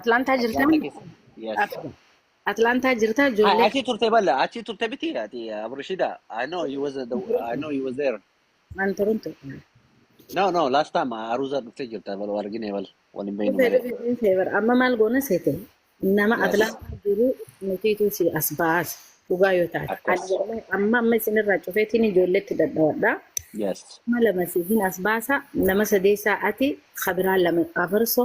Atlaantaa jirta Atlaantaa keessa. Yes. Atlaantaa jirta Ah, ijoollee Achi turte balla. Achi turte biti ati Abrishida. I know he was the, I know he was there. an turun ture. No no last time Aruza dhufte jirta bal wal argine bal wal hin beeknu Dhufee malee. dhufee dhiisee bara amma maal goona seete nama Yes. Atlaantaa jiru nutiitu si as baas dhugaa yoo taate. Akkas. Ani wallahi amma amma isinirraa cufeetiin ijoolleetti dadhawadha. Yes. Nama lama siifin as baasa nama sadeessaa ati kabiraa lama afarso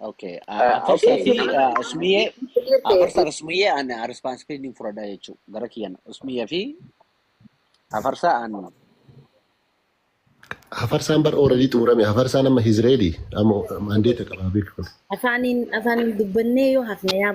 Okay. Uh, Uh, At first, okay, Afi, Usman, uh, Usmiye, uh, first Usmiye and uh, responsibility for that jechuudha. Gara kiyyaan Usmiye fi Afarsa and Hafarsaan bar ooradii xumurame. Hafarsaan amma Hizreeli. Amma mandeeta qaba beeku kun. afaaniin afaaniin dubbannee yoo hafne yaa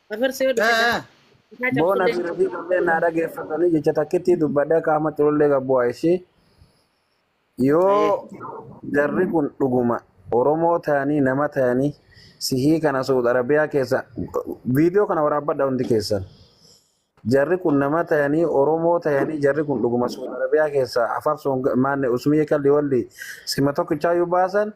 Afarsi yoo dhufe haa haa Boona cabsullee fi rafii qabdee naa dhageeffatanii jecha takkittii dubbadhee akka Ahmad Xulullee gabbu'aa ishii yoo Hayyee. jarri kun dhuguma Oromoo ta'anii nama ta'anii sihii kana Suud Arabiyaa keessa viidiyoo kana waraabbadha hundi keessan. Jarri kun nama ta'anii Oromoo ta'anii jarri kun dhuguma Suud Arabiyaa keessa afarsuun maanne usmiyee kalli walli sima tokkichaayyuu baasan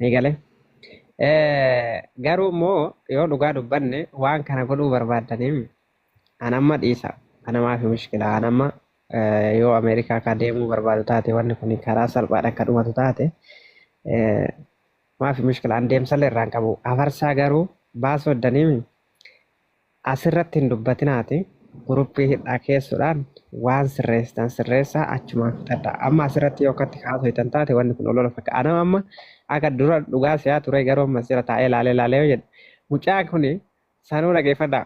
Ni galee. Eh, Garuu immoo yoo dhugaa dubbanne waan kana godhuu barbaaddaniif an amma dhiisa. Ana maafi mushkila. An amma eh, yoo Ameerikaa kaa deemuu barbaadu taate wanni kun karaa salphaadha akka dhumatu taate eh, maafi mushkila. An deemsallee irraan qabu. Afarsaa garuu baasuu iddaniif Asirratti hin dubbatiinaati guruppii hidhaa keessudhaan waan sirreessitan sirreessaa achumaan fixadhaa. Amma asirratti yoo akkatti haasoytan taate wanni kun olola fakka. Anam amma akka dura dhugaa se'aa turee garuu amma asira taa'ee laalee laalee yoo jedhe mucaan kun sanuu dhageeffadhaa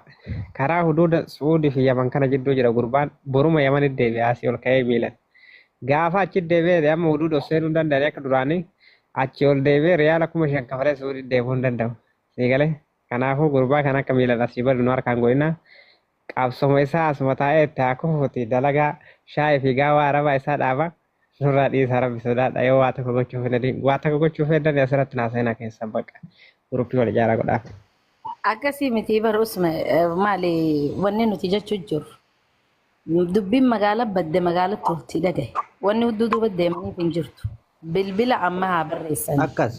karaa huduuda Su'uudii fi Yaman kana jidduu jira gurbaan boruma Yamanitti deebi'a asii ol ka'ee miilan. Gaafa achitti deebi'ee amma huduuda of seenuu hin danda'anii akka duraanii achii ol deebi'ee riyaala kuma shan kafalee Su'uuditti deemuu hin danda'u. Sii galee? Kanaafuu gurbaa kana akka miilan asii badu nu harkaan godhina. Qabsoma isaa asuma taa'ee itti haa kufuuti dalagaa shaayii fi gaawaa arabaa isaa dhaaba. Nurraa dhiisaa rabbi sodaadha yoo waa tokko gochuu fedhanii waa tokko gochuu fedhanii asirratti naa seenaa keessan bakka guruppii wal ijaaraa godhaaf. Akkasii miti bar usme eh, maali wanni nuti jechuu jirru. Dubbiin magaala badde magaalatti walitti dhagahe. Wanni hudduu duuba deemaniif hin jirtu. Bilbila amma haa barreessanii. Akkas.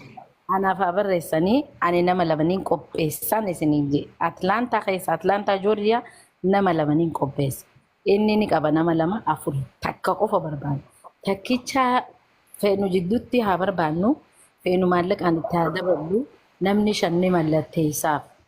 Anaaf haa barreessanii ani nama lamaniin qopheessaan isiniin jee. Atlaantaa keessa Atlaantaa Joorjiyaa nama lamaniin qopheessa. Inni ni qaba nama lama afur takka qofa barbaada. Takkicha feenu jidduutti haa barbaannu feenu maallaqaan itti haa daballu namni shan ni mallatteessaaf.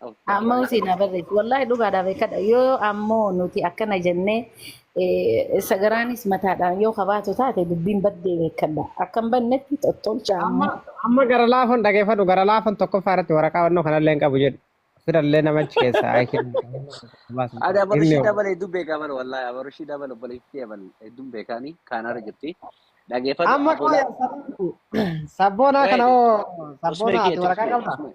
Amma Amma waa'ee usiin kana abarreef wallahi dhugaadhaa beekadha yoo ammoo nuti akkana jennee eh, sagaraanis mataadhaan yoo kabaatu taate dubbiin baddee beekadha akkan bannetti tottolcha amma ammoo amma gara laafan dhageeffadhu gara laafan tokkoffaa irratti waraqaa wannoo kanallee hin qabu jedhu. Fidallee namachi keessaa ayi kennu baasan Ada qabu. baru Himni shi hoo. dabal hedduu beekaa bar wallahi abaru shi dabal obboleettii dabal hedduun beekaanii kaanaara jirti. Dhageeffadhu Amma afoolaa qooya sabboonaa kana Wait, hoo usmee sabboonaa kee ati waraqaa turfee qabdaa? usmee.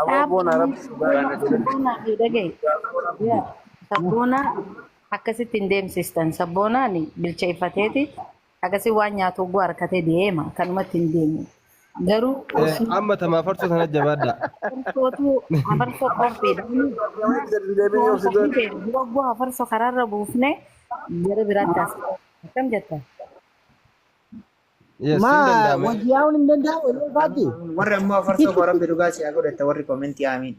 Aboo boon Dhaabaa arabsi dhugaa Sabboonaa itti tole. sabboonaa fi dhaga'i. Yaa sabboonaa akkasitti hin deemsistan. Sabboonaan bilcheeffateeti akkasii waan nyaatu oguu harkatee deema kanumatti hin deemu. Garuu Eh, osoo Amma tamaa farsoo sana jabaadha. hafarsootu hafarsoo qophiidha. Walitti gadi deebiin yoo Osoo fidoon. qophii ta'e dura oguu hafarsoo karaarra buufne gara biraatti as. Akkam jetta? Yes, hin Maa danda'a mee. wajji yaa'uun hin danda'amu yeroo ifaatti. Warri ammoo afarsoo koo rabbi dhugaa si haa godhatta warri komentii aamiin.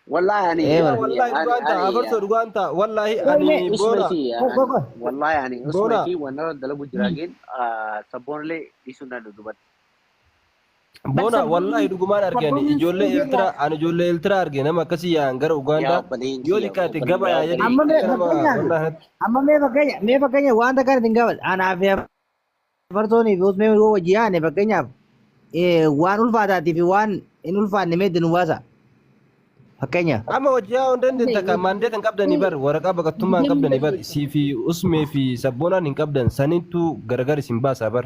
Wallahi ani Ee, Yaa wallaahi ani dhugaan ta'a ani afarsoo dhugaan ta'a wallaahi Wait, ani wait, boona Usmati Go, go, go. wallahi ani boona Usmati wanara dalagu jira gin sabboonillee dhiisuu hin danda'u dubbadhu. Bona sabboonni- wallahi dhugumaan arge ani sabboonni ijoollee Suudiirraa- Eertiraa ani ijoollee Eertiraa arge nama akkasii yaa'an gara Yaa Ugaandaa obboleen yoo kiyya, xiqqaate obboleen gaba yaa obboleen jedhanii Amma mee kiyya. nama fakkeenyaaf- wallahi natti Amma mee fakkeenya mee fakkeenya wanta kana isin gaafadha. Anaa fi afartoonii fi usmee yoo wajji yaane fakkeenyaaf eh, waan ulfaataatii fi waan hin ulfaanne mee itti nu baasa. Fakkeenyaaf. amma hojii haa hundeen takka maandee kan qabdanii bar waraqaa baqattummaa hin qabdanii bar sii fi usmee fi sabboonaan hin qabdan sanittu gargar isin baasaa bar.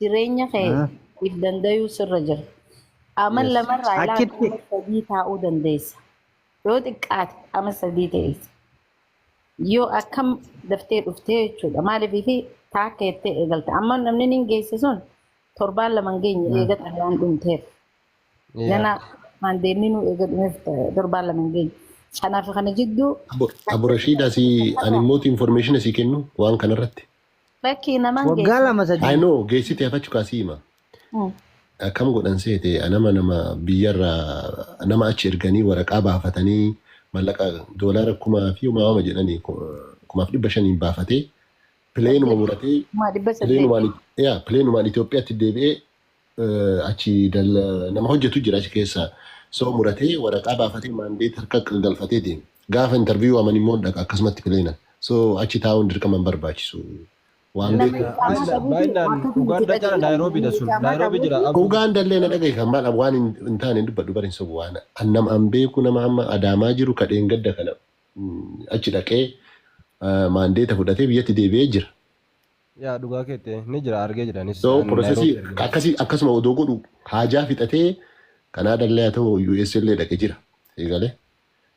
jireenya kee Ah, if dandayuu sirra jira. Ama yes. lamarraa ilaa Achitti ama sadii taa'uu dandeessa. Yoo xiqqaate ama sadii teessa. Yoo akkam daftee dhuftee jechuudha. Maaliif fi taakka jettee eegalte. Amma namni niin geesse sun torbaan lama hin geenye ah, eega xalayaan dhumteef. yeah. Ganaa waan deemni nu eega dhumeef torbaan lama hin geenye. Kanaaf kana jidduu Abu Abu Rashid asii ani immoo information asii kennu waan kanarratti. Lakkii naman Waggaa geessu. lama I sadii. know geessite hafachu kaasii hima. Mm. Akkam godhan seete nama nama biyyarra nama achi erganii waraqaa baafatanii mallaqa doolaara kumaa fi homaa homa jedhanii ku- kumaaf dhibba shaniin baafatee pileenuma Saddeet. muratee Kuma dhibba saddeet. pileenumaan yaa pileenumaan Itoophiyaatti deebi'ee eh, achi dal, nama hojjetu jira achi keessa soo muratee waraqaa baafatee maandeet harka galfatee deema. Gaafa intarviiyuu waaman immoo hin dhaqa akkasumatti pileenan. So achi taa'uun dirqama hin barbaachisu. Waan Nama beekuuf Yaa, itti amanna baay'inaan buuti baay'inaan waan Ugaandaa cala Naayiroobii dha sun. Nama Naayiroobii jira dhabuuti. aboo. Ugaan dallee na dhagahi kan maal waan hin hin taane hin dubbadhu bari hin sobu waan annam an beeku nama amma adaamaa jiru kadheen gadda kana mm, achi dhaqee ah, maandeeta fudhatee biyyatti deebi'ee jira. Yaa dhugaa keette ni jira argee jira anis So an processii Nairobi argee jira. akkasii akkasuma odoo godhu haajaa fixatee Kanaada illee haa ta'u US illee dhaqe jira. Sii galee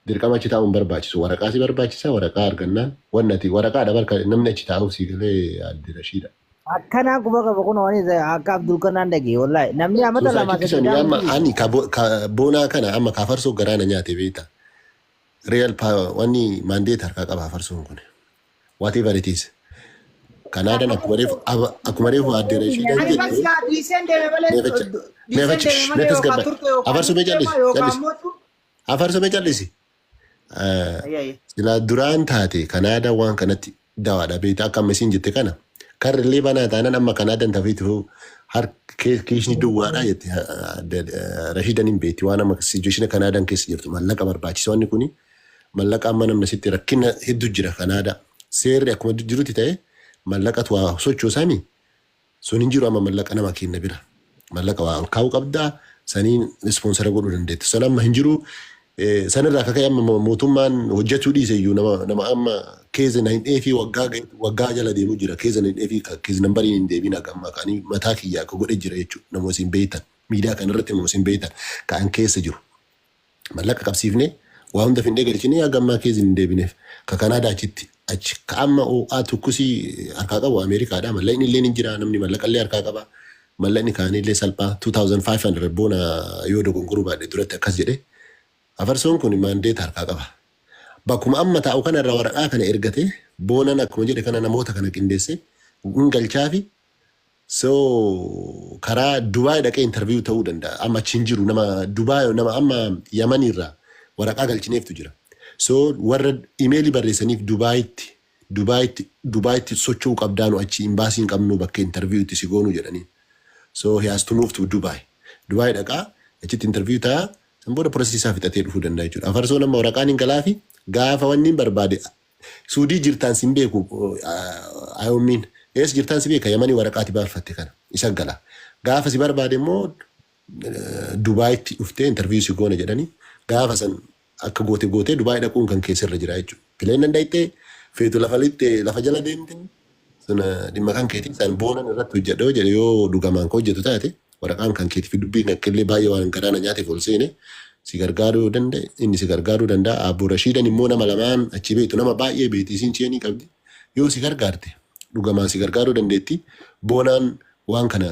dirqama achi taa'uun barbaachisu waraqaa si barbaachisa waraqaa argannaan wanni ati waraqaadha barka namni achi taa'uuf sii galee adde Rashiidha. Akkanaan quba qaba kun waan isa akka Abdul kanaan dhage wallahi namni amata Suusaa lama chitti sadii sanii amma daawwatu ani ka bo- ka boonaa kana amma ka farsoo garaa na nyaate beekta. Real pa wanni mandate harkaa qaba farsoon kun. whatever it is. Kan aadan akkuma reefu aba- akkuma reefu aadde Rashiidaan Ani jette bakka dhiiseen deeme malee mee facha mee dhiiseen facha deeme mee malee yookaan tasgabbaadha. turte yookaan Afarsu mee jijjiirama callisi yookaan callisi mootu afarsu mee callisi. Eh, ayyaayya. Silaa duraan taate kan aadaa waan kanatti dawaadha beektaa akka amma isiin jette kana karri illee banaa taanaan amma kan aadan tafiitu harki kiisni duwwaadha jette Rashiidaan hin beekti waan amma sijueshina kan aadan keessa jirtu mallaqa barbaachisa wanni kuni Mallaqa amma namni asitti rakkina hedduu jira Kanaadaa. Seerri akkuma jirutti ta'e mallaqatu waa sochoosani sun hin jiru amma mallaqa nama kenna bira. Mallaqa waa ol kaa'uu qabda saniin ispoonsara godhuu dandeettu. San amma hin jiru sanirraa akka ka'e amma mootummaan hojjechuu dhiise iyyuu nama nama amma keeza na hin dheefii waggaa waggaa jala deemuu jira keeza na hin dheefii keeza nambariin hin deebiin akka amma kan mataa kiyyaa akka godhe jira jechuudha nama isin beektan miidiyaa kan irratti nama isin beektan kan keessa jiru. Mallaqa qabsiifnee waa hunda findee galchinee haga ammaa keezin hin deebineef. Ka Kanaadaa achitti achi. Ka amma oo'aa tukkusii harkaa qabu Ameerikaadha. Mallaqni illeen hin jira. Namni mallaqa illee harkaa qaba. Mallaqni kaanii illee salphaa 2500 boona yoo dogongoruu baadhe duratti akkas jedhe. Afarsoon kun maandeeta harkaa qaba. Bakkuma amma taa'u kana irraa waraqaa kana ergatee boonan akkuma jedhe kana namoota kana qindeessee hin galchaafi So karaa Dubai dhaqee interview ta'uu danda'a. Amma achi hin jiru nama Dubai nama amma Yaman irraa waraqaa galchineeftu jira. So warra imeelii barreessaniif Dubaitti Dubaitti Dubaitti socho'uu qabdaa nu achi imbaasii hin qabnu bakka interview itti si goonuu jedhaniin. So he has to move to Dubai. Dubai dhaqaa achitti interview ta'a san booda process isaa fixatee dhufuu danda'a jechuudha. Afarsoon amma waraqaan hin galaafi gaafa wanni hin barbaade Suudii jirtaan sin beeku Ayommiin ees jirtaan si beeka yamani waraqaati baaffatte kana isa gala gaafa si barbaade immoo Dubaayitti dhuftee interview si goona jedhani gaafa san akka goote gootee Dubaay dhaquun kan kee sirra jira jechuudha. Pileen danda'ite feetu lafa lixxe lafa jala deemte Sun dhimma kan keetii isaan boonan irratti hojjedha yoo jedhe yoo dhugamaan ka hojjetu taate waraqaan kan keetii fi dubbiin akka illee baay'ee waan garaa na nyaateef ol seene si gargaaruu yoo danda'e inni si gargaaruu danda'a aabbo Rashiidan immoo nama lamaan achi beektu nama baay'ee beekti isiin cheenii qabdi yoo si gargaarte dhugamaan si gargaaruu dandeetti boonaan waan kana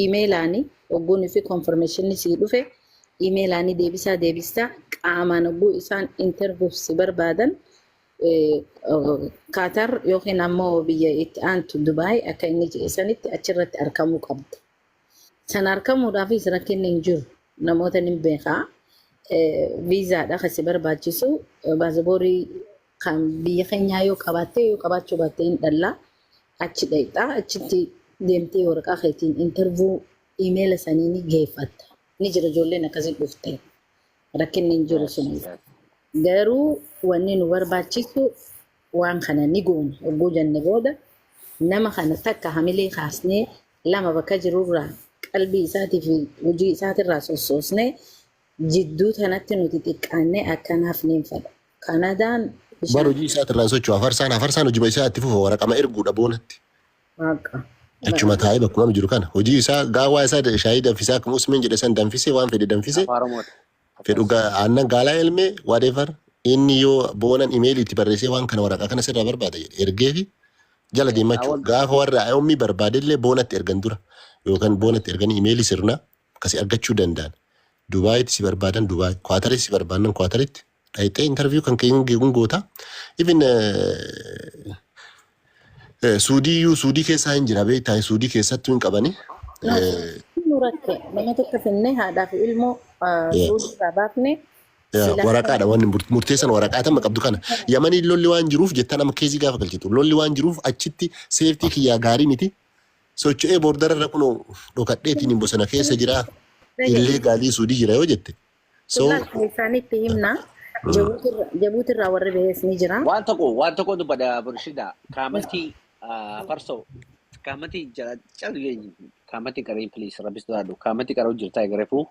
iimeelaani ogguun fi konfirmeeshinni sii dhufe iimeelaani deebisaa deebista qaamaan ogguu isaan intervuuf si barbaadan kaatar yookiin ammoo biyya itti aantu dubaay akka inni jedhe sanitti achirratti arkamuu qabda sana arkamuudhaafis rakkinni hin jiru namoota nin beekaa viizaadha kan si barbaachisu baasaborii Kan biyya keenyaa yoo qabaattee yoo qabaachuu baattee hin dhallaa achi dhayxaa achitti deemtee waraqaa keetiin intervuu imeela sanii ni geeffatta. Ni jira ijoolleen akkasii dhufte rakkinni hin jiru Yes, sun. yes. Garuu wanni nu barbaachisu waan kana ni goona hogguu jenne booda nama kana takka hamilee kaasnee lama bakka jirurraa qalbii isaatii fi hojii isaatirraa sossoosnee Jidduu tanatti nuti xiqqaannee akka hin hafneen fedha. Kanadaan Bar bishaan hojii isaati irraan socho'a. Hafarsaan hafarsaan hojiba isaa itti fufa waraqama erguudha boonatti. Waaqa. Achuma taa'ee bakkuma amma jiru kana. Hojii isaa gaawaa isaa da- shaayii danfisaa akkuma Usmeen jedhe san danfisee waan fedhe danfisee Afaan Oromooti. fedhu ga- aannan gaalaa elmee whatever inni yoo boonan imeelii itti barreessee waan kana waraqaa kana sirraa barbaada jedhe ergee fi jala Keessaa deemachuu wal gaafa warra ummii barbaadellee boonatti ergan dura yookaan boonatti erganii imeelii sirna bakka si argachuu danda'an Dubaayitti si barbaadan Dubaayi, Kuwaataritti si barbaannan Kuwaataritti dhayxee interview kan kee hin hin goota. Even eh, eh, Suudii iyyuu Suudii keessaa hin jira beektaa Suudii keessattuu hin qabani. No, Eh, nu rakke nama tokko finnee haadhaa fi ilmoo ah, Yeah. suudii irraa baafne Yeah, silaa waraqaadha wanni mur- murteessan waraqaa tamma qabdu kana yamanii lolli waan jiruuf jettan amma keezii gaafa galchitu lolli waan jiruuf achitti seeftii kiyyaa gaarii miti socho'ee boordararra kunoo dhokadheetiin bosona keessa jira illee gaalii suudii jira yoo jette. So isaanitti himna. Jabuuti irraa warri bahees ni jira. Waan tokko waan tokko dubbadha Burshida. Kaamati farsoo. Kaamati jala calu jeenyu. Kaamati qaree please rabbis duraadhu. Kaamati qaroo jirtaa eegarefuu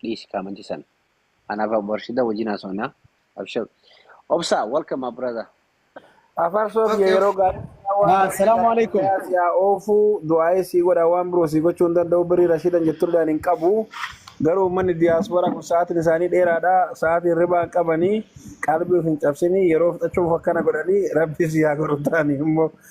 dhiisi kaamati sana. Anaaf Burshida wajjin haasofna. Abshir. Obsa welcome my brother. Afaan soof Okay. yeroo gaarii haa waan bareedaa Assalaamu alaikum. nagayaa si haa oofu du'aa'ee sii godha waan biroo sii gochuu hin danda'u birii rashiidan jettulleen hin qabu garuu uummanni diyaaspooraa kun sa'aatiin isaanii dheeraadha sa'aatii hirribaa hin qabanii qalbii of hin cabsinii yeroo fixachuuf akkana godhanii rabbi sii haa godhu taanii immoo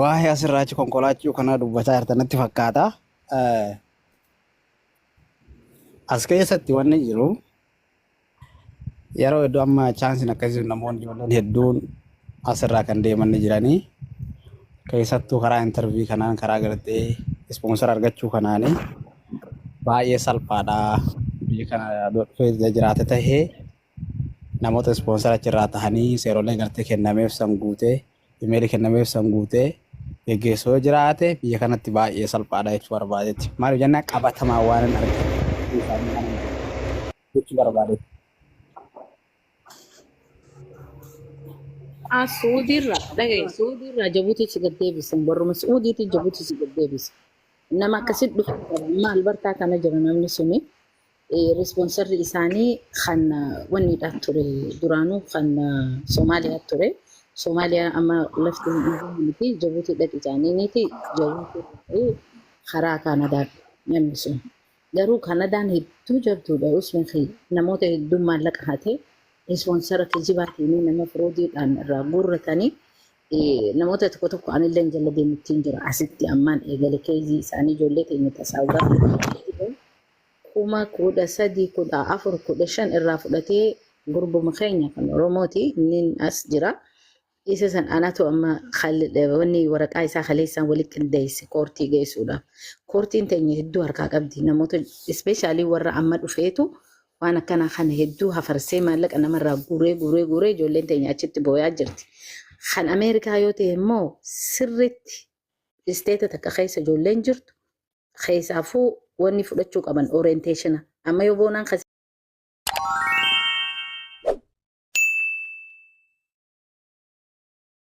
Waa'ee asirraa achi konkolaachuu kanaa dubbataa jirta natti fakkaata. As keessatti wanni jiru yeroo hedduu amma chaansiin akkasii namoonni ijoolleen hedduun asirraa kan deeman ni jiranii. Keessattuu karaa intarvii kanaan karaa gartee ispoonsara argachuu kanaanii baay'ee salphaadha. Biyya kana dhufee jiraate tahee Namoota ispoonsara achirraa tahanii seerolee gartee kennameef san guutee imeeli kennameef san guutee geggeessu yoo jiraate biyya kanatti baay'ee salphaadha jechuu barbaadetti. Maaliif jennaan qabatamaa waan hin argine jechuu isaanii kana hin jedhu jechuu barbaadetti. As Suudiirraa dhaga'i Suudiirraa Jabuutii si gaddeebisan barruma Suudiitii Jabuutii si gaddeebisan. Nama akkasitti dhufu qaba maal bartaa kana jira namni suni Responserri isaanii kan wanniidha ture duraanuu kan Somaaliyaa ture. Somaaliyaa amma lafti hin dhiibamu miti Jabuutii dhaqi jaaniiniiti Jabuutii dhaqee karaa Kaanadaa namni sun. Garuu Kaanadaan hedduu jabduudha Usman Khiyya. Namoota hedduun maallaqa hatee responsera kijibaatiin nama firoodiidhaan irraa guurratanii namoota tokko tokko anillee hin jalla deemuttiin jira asitti ammaan eegale keezii isaanii ijoollee keenya tasaawu gaafa kuma 13, 14, 15 irraa fudhatee gurbuma keenya kan Oromooti innin as jira. Isa san anatu amma wanni waraqaa isaa kaleessaan wali qindeesse koortii geessuudhaaf. Koortiin teenya hedduu harkaa qabdi. Namoota ispeeshaalii warra amma dhufeetu waan akkanaa kana hedduu hafarsee maallaqa namarraa guuree guuree guuree ijoolleen teenya achitti booyaa jirti. Kan Ameerikaa yoo ta'e immoo sirriitti isteeta takka keessa ijoolleen jirtu Keessaafuu wanni fudhachuu qaban orienteeshina. Amma yoo boonaan kan